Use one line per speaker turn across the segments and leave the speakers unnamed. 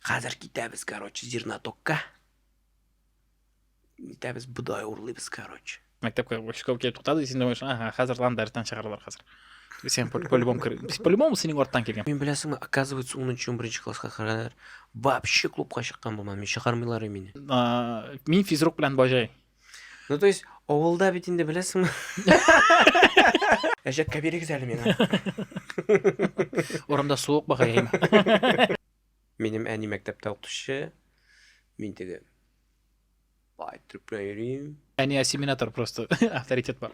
Хәзер китәбез, короче, зернотокка. Китәбез, бодай урлыйбыз, короче. Мәктәпкә школ
килеп туктады, син думаешь, ага, хәзер лан дәрестән чыгаралар хәзер. Сен по-любому кер... По-любому синең арттан килгән. Мин беләсеңме, оказывается,
10-нчы 11-нче класска кадәр вообще клубка чыккан булмам, мин чыгармыйлар мине. Мин
физрук белән бажай. Ну, то есть,
авылда бит инде беләсеңме? Әҗәккә бирегез әле миңа.
Урамда суык багай.
Минем әни мәктәптә укытучы. Мин теге бай трюкпен йөрим. Әни ассимилятор
просто авторитет бар.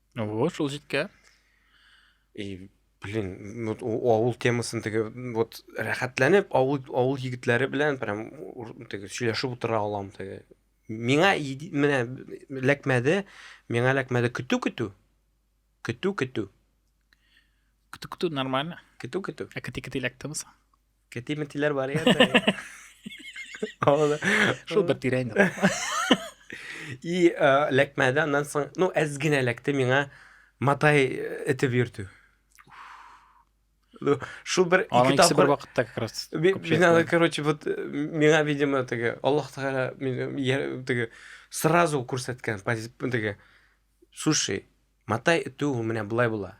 Ого, шул
җиткә. И,
блин, ну, о- авыл темасын теге вот рәхәтләнеп авыл авыл егетләре белән прям ур- теге сөйләшеп утыра алам теге. Миңа иди- менә ләкмәде, миңа ләкмәде көтү көтү. Көтү көтү.
Көтү-көтү нормально. Көтү көтү. Ә кити-кити
ләктемсең.
Кәти ментиләр
бар икән дә. Алда.
Шул бер тирә инде.
И эләкмәде, аннан соң, ну, әз генә эләкте миңа матай итеп йөртү. Ну, Шул бер Аның ике икесе бер тапкыр вакытта
как раз. Би- күп Мин аны, җәйттем. короче,
вот э, миңа, видимо, теге Аллах Тәгалә мине я- теге сразу күрсәткән пози- теге слушай, матай итү менә болай була.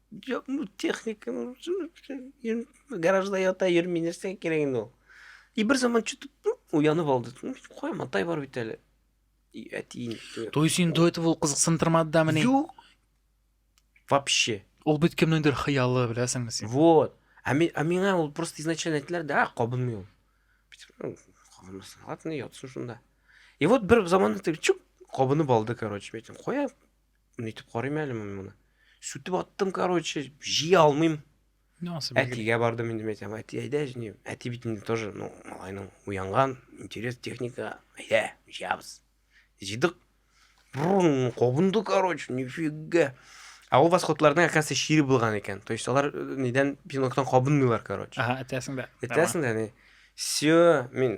Жоқ, ну, техника, ну, гаражда ята йөрми, нәрсәгә кирәк инде ул. И бер заман что-то ну, уянып алды. Ну, куя, матай бар бит әле. И әтиен. То есть инде это
ул кызыксындырмады да менә. Юк.
Вообще. Ул бит
кемнеңдер хыялы, беләсеңме син? Вот. Ә мен, ә
миңа ул просто изначально әйттеләр, да, кабынмый ул. Ну, кабынмасын, ладно, ятсын шунда. И вот бер заман чук, кабынып алды, короче, мен айттым, куя, Нитеп карыйм әле мин моны. Сүтеп аттым, короче, җи алмыйм. Әтигә бардым инде мен әйтәм, әти әйдә җине. Әти бит инде тоже, ну, малайның уянган, интерес техника, әйдә, җыябыз. Җыйдык. Кобынды, короче, нифига. А ул восходларның әкәсе шире булган икән. То есть алар э, нидән пиноктан кабынмыйлар, короче. Ага, әтәсең дә. Әтәсең
дә, не.
Все, мин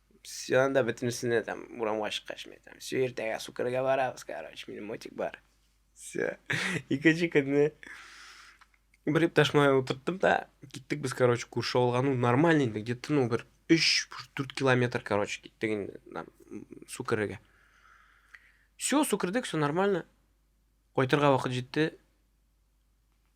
Все, анда бөтенесенә там урамга чыккач мен там все иртәгә сукырга барабыз короче минем мотик бар все икенче көнне бер иптәш малай утырттым да киттек без короче күрше авылга ну нормально инде где то ну бер үч дүрт километр короче киттек инде су керергә все су кердек все нормально кайтырга вакыт җитте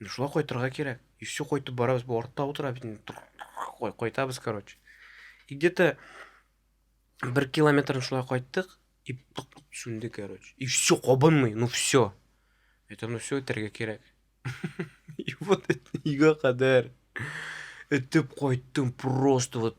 Ну шулай кайтырга кирәк. И все кайтып барабыз, бу артта утыра бит инде. Кайтабыз, короче. И где-то бер километрын шулай кайттык, и сүнде, короче. И все кабынмый, ну все. Это ну все үтәргә кирәк. И вот это ига кадәр. Этеп кайттым просто вот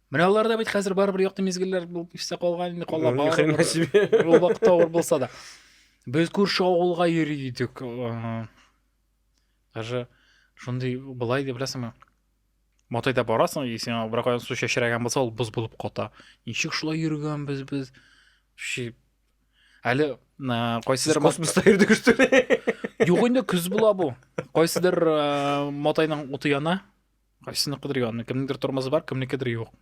Менә алар да бит хәзер барыбер якты мизгелләр булып истә калган инде кала Ну, ни хрена барыбер. себе.
Ул вакытта авыр булса
да. Без күрше авылга йөри идек. э, Даже шундый былай дип беләсеңме? Матайда барасың, и сиңа бер кайдан су чәчрәгән булса, ул боз булып ката. Ничек шулай йөргәнбез без? Ши. Әле на, Сез кайсыдыр мат- космоста йөрдегез что
ли? Юк инде көз
була бу. Кайсыдыр э, матайның уты яна. Кайсыныкыдыр янына, кемнеңдер тормозы бар, кемнекедер юк.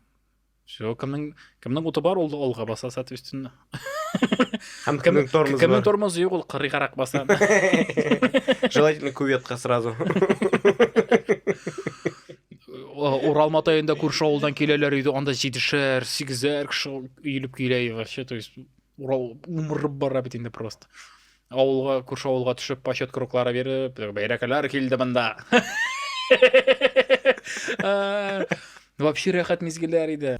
Все, кемнең кемнең уты бар, ул алга баса, соответственно.
Һәм кемнең тормозы бар. Кемнең тормозы юк, ул
кырыйгарак баса.
Желательно кюветка сразу.
Урал матаенда күрше авылдан киләләр иде, анда җидешәр, сигезәр кеше өелеп килә, вообще, то есть Урал умырып бара бит инде просто. Авылга, күрше авылга төшеп, почет круглары биреп, бәйрәкәләр килде монда. Вообще рәхәт мизгелләр иде.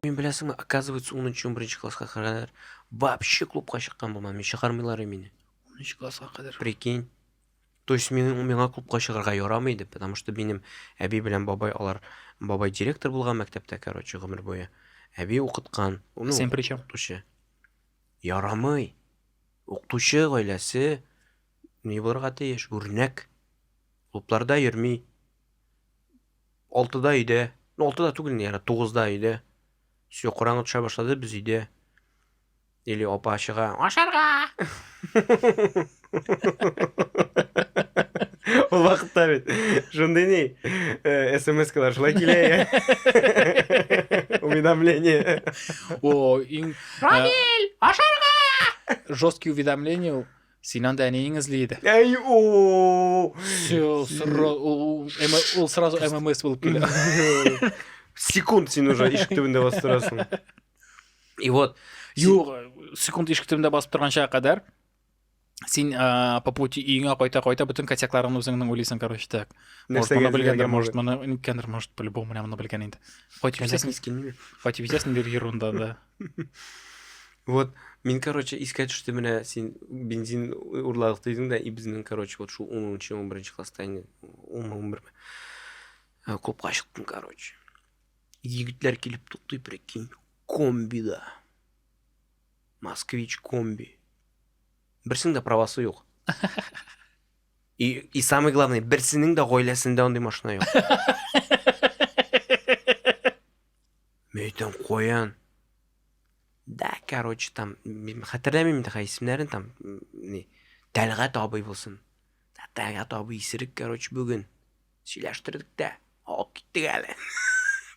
Мин беләсеңме, оказывается, 10-11 класска кадәр вообще клубка чыккан булмам. Мин чыгармыйлар мине. 10 класска кадәр.
Прикинь.
То есть мин миңа клубка чыгарга ярамый иде, потому что минем әби белән бабай алар бабай директор булган мәктәптә, короче, гомер буе. Әби укыткан. Ну, Сен при чем?
Тучы.
Ярамый. Укытучы гаиләсе ни булырга тиеш? Үрнәк. Клубларда йөрми. Алтыда өйдә. Ну, алтыда түгел, яра, тугызда өйдә. Все, караңгы төшә башлады, без өйдә. Или апа чыга. Ашарга! Ул вакытта бит шундый ни э, смс-калар шулай килә я. Уведомление. О, иң э, Рамил,
ашарга! Жесткий уведомление ул. Син анда әниең эзли иде. Әй, о.
Всё,
сра- ул- ул- ул сразу ММС булып килә.
Секунд син уже ишек төбендә басып торасың. И вот, Юк,
секунд ишек төбендә басып торганчага кадәр син ә, по пути өеңә кайта кайта бөтен косякларыңны үзеңнең уйлыйсың короче так может моны белгәндер может моны ниткәндер может по любому менә моны белгән инде хоть битәсең хоть битәсең дир ерунда да
вот мин короче искә төште менә син бензин урладык дидең да и безнең короче вот шул унынчы он беренче класста инде он он берме ә, клубка чыктым короче егетләр килеп туктый прикинь комбида Москвич комби. Берсенең дә правасы юк. И, и самый главный, берсенең дә гаиләсендә андый машина юк. Мен әйтәм, каян? Да, короче, там, хәтерләмим инде исемнәрен, там, не, Тәлгать абый булсын. Тәтәгә табы исерек, короче, бүген. Сөйләштердек тә, алып киттек әле.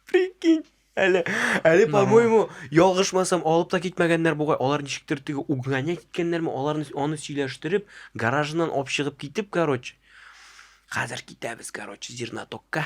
Прикинь. Әле, әле, по-моему, ялгышмасам, алып та китмәгәннәр бугай. Алар ничектер теге угнание киткәннәрме, аларны аны сөйләштереп, гаражыннан алып чыгып китеп, короче. Хәзер китәбез, короче, зернотокка.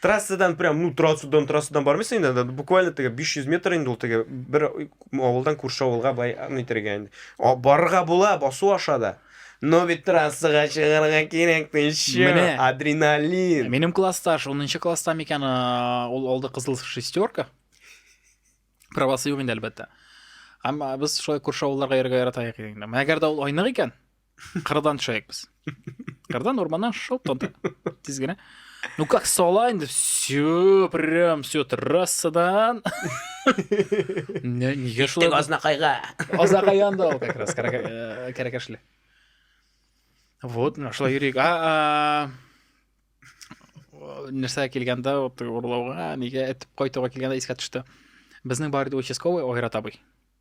трассадан прям ну трассадан трассадан бармыйсың инде анда буквально теге 500 метр инде ул теге бер авылдан күрше авылга былай нитергә инде О, барырга була басу аша да но бит трассага чыгарга кирәк ты еще Менә. адреналин Минем класста, ш-
10 класста микән, а, ул алды кызыл шестерка. Правасы юк инде әлбәттә. Әмма без шулай күрше авылларга йөрергә яратайык инде. Әгәр дә ул айнык икән, Кырдан төшәйек без. Кырдан урманнан шоп тонта. Тиз генә. Ну как сала инде все прям все трассадан. Не, нигә шулай? Азнакайга.
Азнакай янда
ул как раз э, кәрәкәшле. Вот, ну шулай йөрик. А, нәрсә килгәндә урлауга, нигә этеп кайтуга килгәндә искә төште. Безнең бар иде участковый Айрат абый.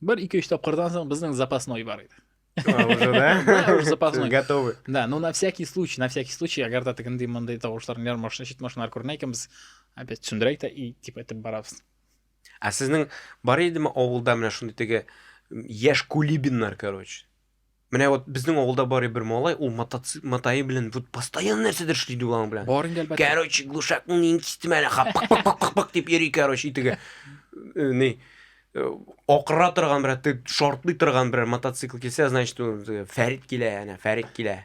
Бер ике-өч тапкырдан соң безнең запасной бар иде. А, уже, да? Да,
уже запасной. Готовы.
Да, ну на
всякий
случай, на всякий случай, әгәр дә тегендей мондый тавышларны яр машина, чит машиналар күренә икән, без опять төшендерәйк тә и дип әйтеп барабыз. Ә сезнең
бар идеме авылда менә шундый теге м, яшь кулибиннар, короче? Менә вот безнең авылда бар бер малай, ул мотоцикл матае белән вот постоянно нәрсәдер эшли ди аның белән. Бар инде әлбәттә. Короче,
глушакны нин
кистем әле, ха, пак пак пак пак пак дип йөри, короче, итеге. Э, Ни? э, Акыра торган берәр, ты- шартлый торган берәр мотоцикл килсә, значит, ул, э, Фәрит килә, әнә, Фәрит килә.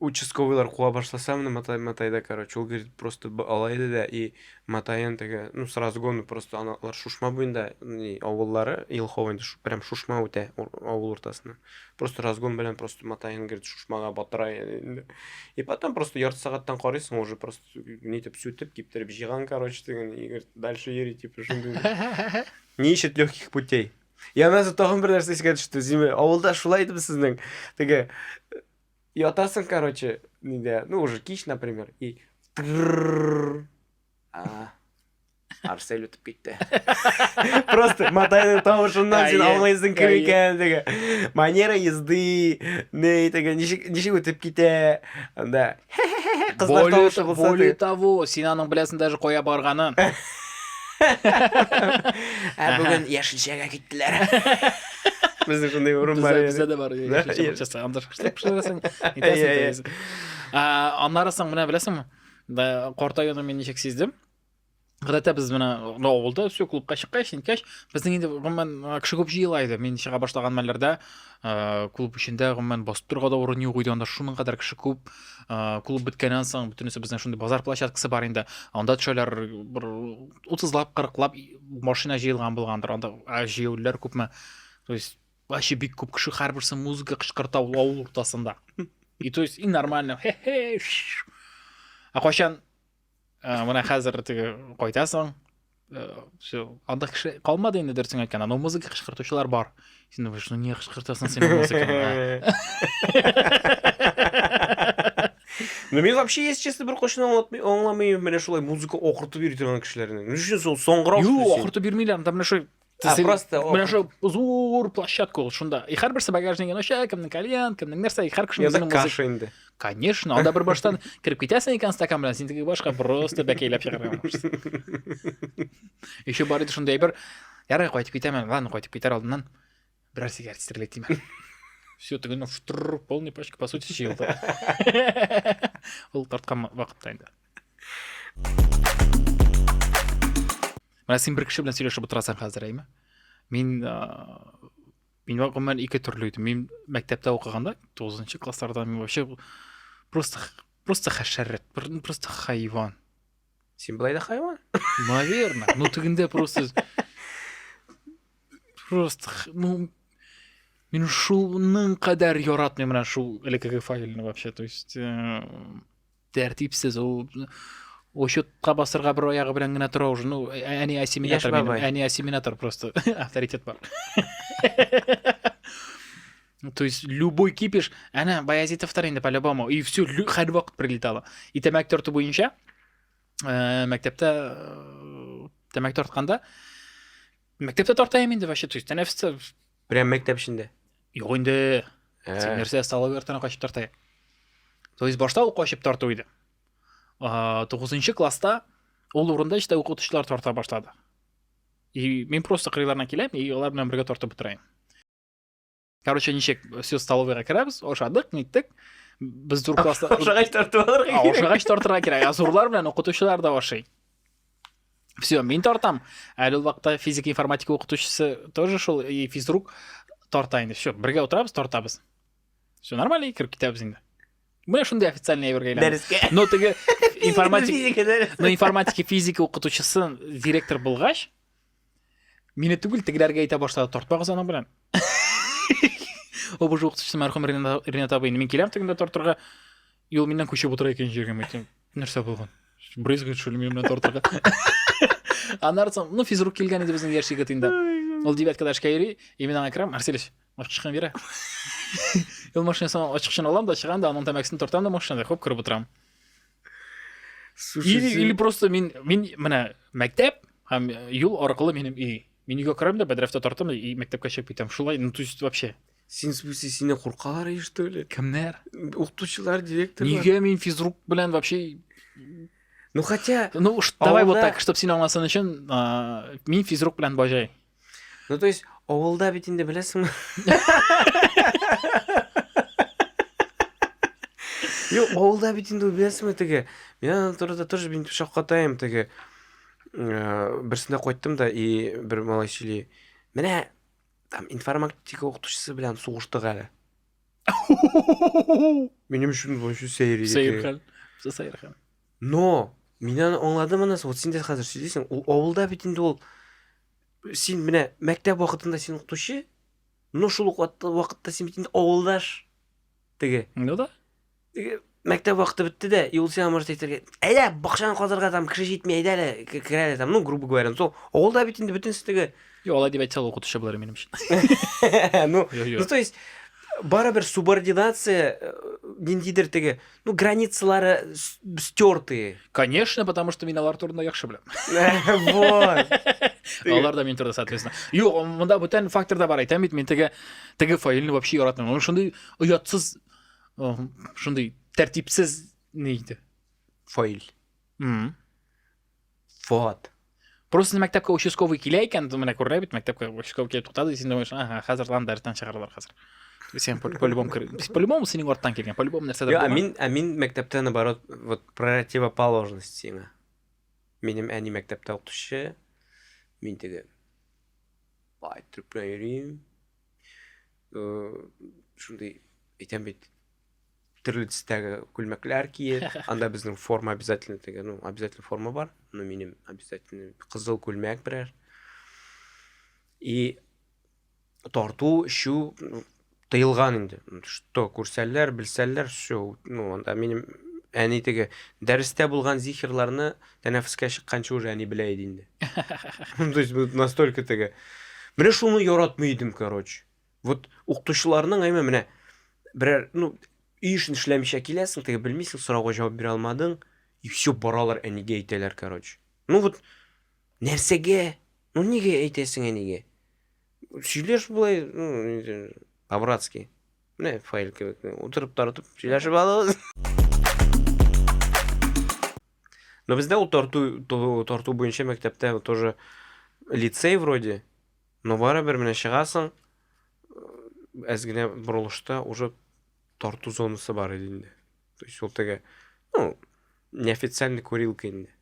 участковыйлар куа башласа менә матай матайда короче ул говорит просто алай иде дә и матаен теге ну с разгону просто аналар шушма буенда не авыллары елхова инде прям шушма үтә авыл уртасына просто разгон белән просто матаен говорит шушмага батыра инде и потом просто ярты сәгатьтән карыйсың уже просто нитеп сүтеп киптереп җыйган короче теге и говорит дальше йөри типа шундый ни ищет легких путей Янәсе тагын бер нәрсә искә төште. Зимә, авылда шулай идеме сезнең? Теге ятасың, короче, нидә, ну уже кич, например, и трррррр. А, Арсель үтеп китте. Просто матайның тавышыннан син Әйе, аңлыйсың кем әйе. икәнлеге. Манера езды, не итеге, ничек ничек үтеп китә. Анда Кызлар тавышы булса. Более того, син
аның беләсен даже коя барганын.
Ә бүген яшелчәгә киттеләр. Безнең шундый урын бар. Бездә дә бар.
Часагандыр. Пешерәсең. Итәсең. Аннары соң менә беләсеңме? Картаюны мин ничек сиздем? Гадәттә без менә анда авылда все клубка чыккач, ниткәч, безнең инде гомумән а, кеше күп җыела иде. Мин чыга башлаган мәлләрдә а, клуб эчендә гомумән басып торырга да урын юк иде. Анда шуның кадәр кеше күп. А, Клуб беткәннән соң бөтенесе безнең шундый базар площадкасы бар инде. Анда төшәләр бер 30лап, 40лап машина җыелган булгандыр. Анда а, җыелүләр күпме. То есть вообще бик күп кеше һәрберсе музыка кычкырта ул авыл уртасында. И то есть и нормально. Хе-хе. шш. Ә кайчан Ә, менә хәзер теге кайтасың. Все, анда кеше калмады инде дөресен әйткәндә, но музыка кычкыртучылар бар. Син думаешь, ну не кычкыртасың син музыканы.
Ну мен вообще если честно бер кошны аңлатмый аңламыйм менә шулай музыка окыртып йөри торган кешеләрне. Ни өчен соң соңгырак? Юк, окыртып йөрмиләр, анда
менә шул Ә, син, просто менә
шул
зур площадка ул шунда и һәрберсе багажнигын ача кемнең кальян кемнең нәрсә и һәр кешенең язык каша инде
конечно анда бер
баштан кереп китәсең икән стакан белән син теге башка просто бәкәйләп чыгарга еще бар иде шундый әйбер ярый кайтып китәмен ладно кайтып китәр алдыннан Бераз сигарет стрелять тиме? Все, ты ну, штур, полный пачка, по сути, чил. Ол тарткан вакытта инде. Менә син бер кеше белән сөйләшеп утырасың хәзер, әйме? Мин мин гомумән ике төрле идем. Мин мәктәптә укыганда 9 классларда мин вообще просто просто хәшәрәт, просто хайван. Син былай
да хайван? Наверное. Ну
тегендә просто просто ну мин шуның кадәр яратмыйм менә шул элеккеге файлны вообще то есть э, тәртипсез ул учетка басырга бер аягы белән генә тора уже ну әни ассимилятор әни ассимилятор просто авторитет бар Ну, то есть любой кипиш, әнә Баязитовтар инде по-любому, и все, хәл вакыт прилетало. И тәмәк тарту буенча, ә, мәктәптә э, тәмәк тартканда, мәктәптә тарта инде вообще, то есть тәнәфестә. Прям мәктәп
эчендә. Юк инде. Ә.
Син нәрсә столовый артына качып тарта. То есть башта ул качып тарту иде. 9 класста ул урында işte укытучылар тарта башлады. И мин просто кырыйларына киләм, и алар белән бергә тартып бетерәм. короче ничек все столовыйға кіреміз ошадық неттік біз дүр класста ошағаш тартып алырға
керек ошағаш тартырға керек
азурлар белән укытучылар да ашый все мин тартам әле ул вакытта физика информатика укытучысы тоже шул и физрук тарта инде все бергә утырабыз тартабыз все нормально кереп китәбез инде менә шундый официальный әйбергә дәрескә но теге информатика
но информатика физика
укытучысы директор булгач Мине түгел, тегеләргә әйтә башлады, тартпагыз аның белән. Обыжы укытучысы мәрхүм Ринат абый, мин киләм тегендә тартырга, и ул миннән күчеп утыра икенче җиргә, әйтәм, нәрсә булган? Брызгает, что ли, минем белән тартырга? Аннан соң, ну, физрук килгән иде безнең яшь егет инде. Ул девяткада эшкә йөри, и мин аңа керәм, Арселич, ачкычны бирә. Ул машинасына ачкычын алам да, чыгам да, аның тәмәкесен тартам да машинада, хоп, кереп утырам. Слушай, или, или просто мин, мин менә мәктәп һәм э, юл аркылы минем өй. Мин өйгә керәм дә бәдрәфтә тартам и мәктәпкә чыгып китәм. Шулай, ну то есть вообще. Син смысле сине
куркалар и что ли? Кемнәр?
Укытучылар,
директор. Нигә мин физрук
белән вообще
Ну хотя Ну давай вот так,
чтобы син аңласын
өчен,
мин физрук белән бажай. Ну, то есть,
авылда бит инде беләсеңме? Юк, авылда бит инде беләсеңме теге. Мин аны турыда тоже мин шаккатаем теге. Э, берсендә кайттым да и бер малай сөйли. Менә там информатика укытучысы белән сугыштык әле. Минем өчен вообще сәер иде. Сәер хәл. Сәер
хәл. Но!
Мин аны аңладым анысы. Вот син дә хәзер сөйлисең. Ул авылда бит инде ул. Син менә мәктәп вакытында син укытучы, но шул ук вакытта син бит инде авылдаш. Теге. Ну да.
Теге мәктәп
вакыты бетте дә, и ул сиңа может әйтергә, әйдә, бакчаны казырга там кеше җитми, әйдә әле, керә әле там, ну, грубо говоря, ну, сол, авылда бит инде бөтенесе теге. Юк, алай дип әйтсә ул
укытучы булыр минем өчен. Ну,
ну, то есть, барыбер субординация э, ниндидер теге Ну, границалары стертые. Конечно, потому
что мин алар турында яхшы беләм. Вот. Алар да мин турында, соответственно. Юк, монда бүтән фактор да бар. Әйтәм бит, мин теге теге файлны вообще яратмыйм. Ул шундый оятсыз, шундый тәртипсез нейди. Файл.
Вот. Просто мәктәпкә
участковый килә икән, менә күрелә бит, мәктәпкә участковый килеп туктады, син думаешь, ага, хәзер лан дәрестән чыгаралар хәзер. Сен по-любому по-любому синең арттан килгән, по-любому нәрсәдер. Я, мин, а мин
мәктәптә
наоборот,
вот противоположность сиңа. Минем әни мәктәптә укытучы, мин теге бай труппа йөрим. Э, шундый әйтәм бит, төрле төстәге күлмәкләр киеп анда безнең форма обязательно теге ну обязательно форма бар ну минем обязательно кызыл күлмәк берәр и тарту эчү тыелган инде что күрсәләр белсәләр все ну анда минем әни теге дәрестә булган зихерларны тәнәфескә чыкканчы уже әни белә иде инде то есть настолько теге менә шуны яратмый идем короче Вот укытучыларның әйме менә берәр, ну, өй эшен эшләмичә киләсең, теге белмисең, сорауга җавап бирә алмадың, и все, баралар әнигә әйтәләр, короче. Ну вот нәрсәгә? Ну нигә әйтәсең әнигә? Сөйләш болай, ну, по-братски. Менә файл кебек. Утырып тартып сөйләшеп алабыз. Но бездә ул тарту, тарту буенча мәктәптә тоже лицей вроде, Но барыбер менә чыгасың, әз генә борылышта уже тарту зонасы бар иде инде. То есть ул теге, ну, неофициальный курилка инде.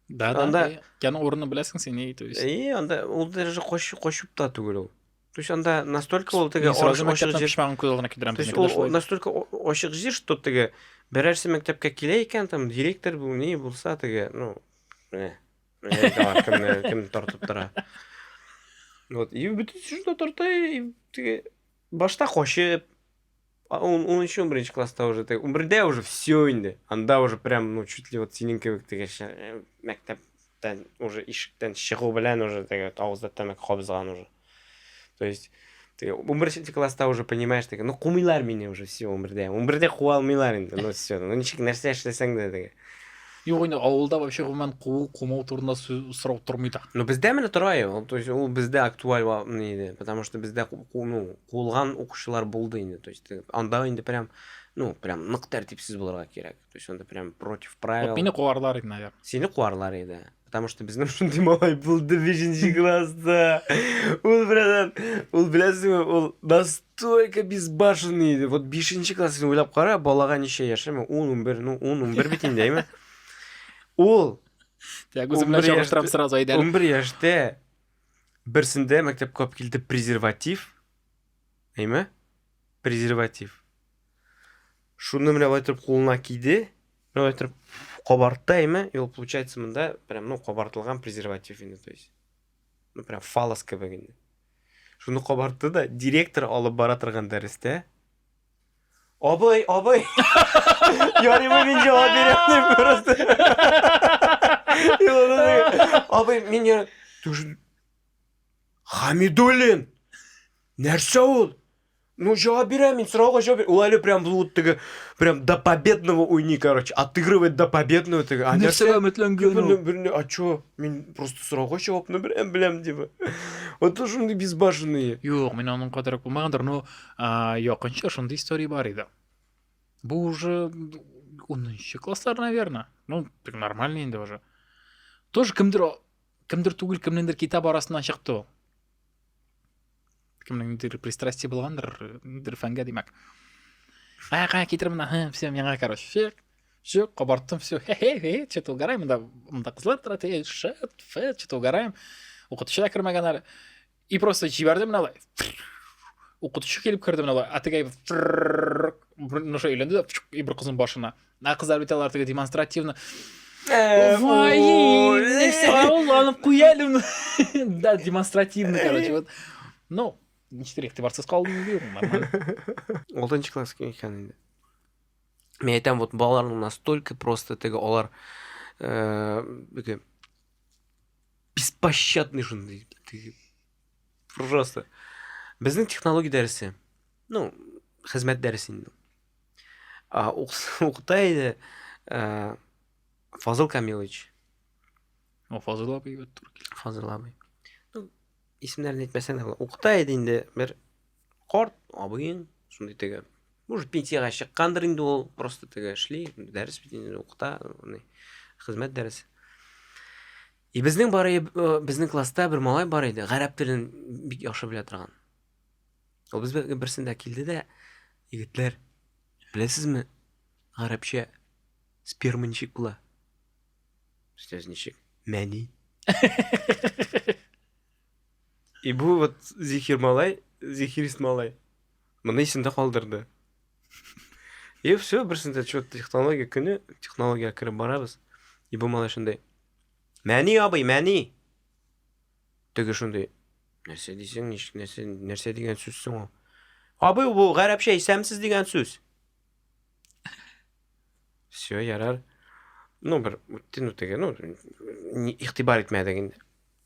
Да, да,
анда... яны
урыны беләсең
син, и, то есть. И, анда, ул даже
кочып, кочып та түгел ул. То есть анда настолько ул теге ашык ашык жир. Шмагын
кулына
кидерәм.
То
есть ул настолько ашык жир, что теге берәрсе мәктәпкә килә икән, там директор бу, ни булса теге, ну, э. кемне кем тартып тора вот и бөтен сүзне тарта и теге башта качып он он еще бірінші класста уже теге он бірде уже все инде анда уже прям ну чуть ли вот синең кебек теге мәктәптән уже ишектән чыгу белән уже теге авызда тәмәке кабызган уже То есть ты унберенче класста уже понимаешь теге ну кумыйлар мине уже все унбердә унбердә куа алмыйлар инде ну все ну ничек нәрсә эшләсәң дә теге Юк инде
авылда вообще гомумән куу кумау турында сорау тормый да. Ну бездә менә тора
ул, то есть ул бездә актуаль иде, потому что бездә ну куылган укучылар булды инде, то есть анда инде прям ну прям нык тәртипсез булырга кирәк. То есть он прям против правил. Вот меня куарлар иде,
наверное. Сине куарлар иде.
Потому что без шундый малай булды бишенче класста. Ул белән, ул беләсеңме, ул настолько безбашенный иде. Вот бишенче класс син уйлап кара, балага ничә яшеме? 10-11, ну 10-11 бит инде, әйме? Ул Тәк
үзем белән чагыштырам сразу әйдәле. 11 яшьтә
берсендә мәктәпкә алып килде презерватив. Әйме? Презерватив. Шуны менә байтырып кулына киде. Менә байтырып кабартты әйме. И ул получается монда прям ну кабартылган презерватив инде, то есть. Ну прям фалос кебек инде. Шуны кабартты да директор алып бара торган дәрестә Абый, абый. Ярый мы мин җавап бирәм просто. Абый, мин я Хамидуллин. Нәрсә ул? Ну, жауап бирә, мин сорауга жауап бирә. Ул әле прям бу теге прям до победного уйный, короче, отыгрывает до победного теге. А нәрсә өметләнгән
ул? Берне, а чё? Мин
просто сорауга жавапны берәм беләм дип. Вот то шундый безбашенные. Юк, мин аның кадәр
булмагандыр, но якынча шундый история бар иде. Бу уже 10 класслар, наверное. Ну, так нормально инде уже. Тоже кемдер Кемдер түгел, кемнеңдер китап арасыннан чыкты ул. Кемнеңдер пристрастие булгандыр, ниндер фәнгә димәк. Кая, кая китер мына, һы, все, миңа, короче, фек, все, кабарттым, все, хе-хе-хе, что-то угораем, мында, мында кызлар тора, ты, шет, фе, что-то угораем. Укытучы да кермәгән әле. И просто җибәрде менә алай. Укытучы килеп керде менә алай. Атыгай нәрсә өйләнде дә и бер кызның башына. Ә кызлар бит алар теге демонстративно. Э, Вай, нәрсә ул алып куя әле. Да, демонстративно, короче, вот. Ну, ничек игътибарсыз калдым дию, нормально. Алтынчы
класс икән инде. Мен әйтәм, вот балаларның настолько просто теге алар э, беспощадный шундый просто безнең технология дәресе ну хезмәт дәресе инде укыта иде ә, фазыл камилович о
фазыл абый фазыл абый
ну исемнәрен әйтмәсәң дә була укыта иде инде бер Карт абыең шундый теге. Может, пенсияга чыккандыр инде ул, просто теге эшли, дәрес бит инде укыта, хезмәт дәресе. И безнең бар э, безнең класста бер малай бар иде, гарәп телен бик яхшы белә торган. Ул безгә берсендә килде дә, егетләр, беләсезме, гарәпчә сперма ничек була? Сез ничек? Мәни. И бу вот Зихир малай, Зихирист малай. Моны исендә калдырды. И все, берсендә чё технология көне, технология кереп барабыз. И бу малай шундый. Мәни абый, мәни. Теге шундый. Нәрсә дисең, ничек нәрсә, нәрсә дигән сүз соң ул? Абый, бу гарәпчә исәмсез дигән сүз. Все, ярар. Ну, бер үттен үтеге, ну, игътибар итмәдек инде.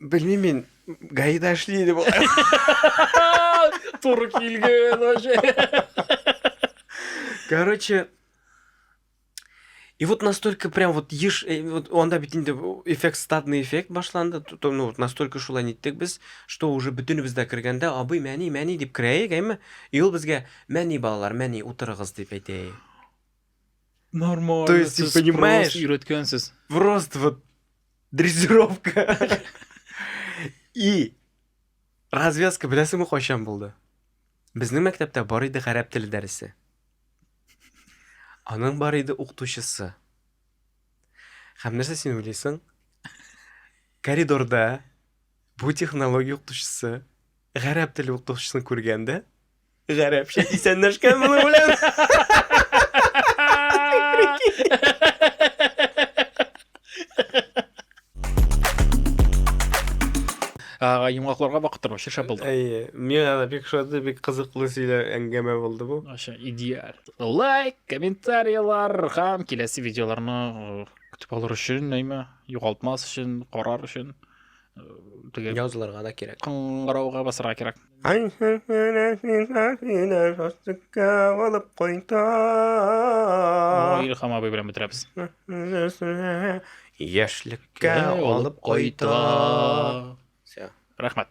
Белмим мин,
гаида эшли иде бу.
Туры килгән вообще.
Короче, И вот настолько прям вот еш, э, вот анда бит инде эффект стадный эффект башланды, то, ну, вот настолько шулай ниттек без, что уже бөтенебез дә кергәндә, абый, мәни, мәни дип керәек, әйме? И ул безгә, мәни балалар, мәни утырыгыз дип әйтә.
Нормально. То есть, ты
понимаешь? Просто
Просто вот
Дрессировка. И развязка беләсеңме кайчан булды? Безнең мәктәптә бар иде гарәп теле дәресе. Аның бар иде укытучысы. Һәм нәрсә син уйлыйсың? Коридорда бу технология укытучысы гарәп теле укытучысын күргәндә, Гарәпчә исәнләшкән моның белән.
Ага, йомгакларга бакып тору шешә булды. Әйе, миңа да бик
шуды, бик кызыклы сөйлә әңгәмә булды бу. Аша идеаль.
Лайк, комментарийлар һәм киләсе видеоларны э, көтеп алыр өчен, әйме, югалтмас өчен, карар өчен. э, Төгәл. Язларга да
кирәк. Кыңгырауга басырга
кирәк.
Илхам
абый белән бетерәбез.
Яшьлеккә алып
кайта.
Все. Рәхмәт.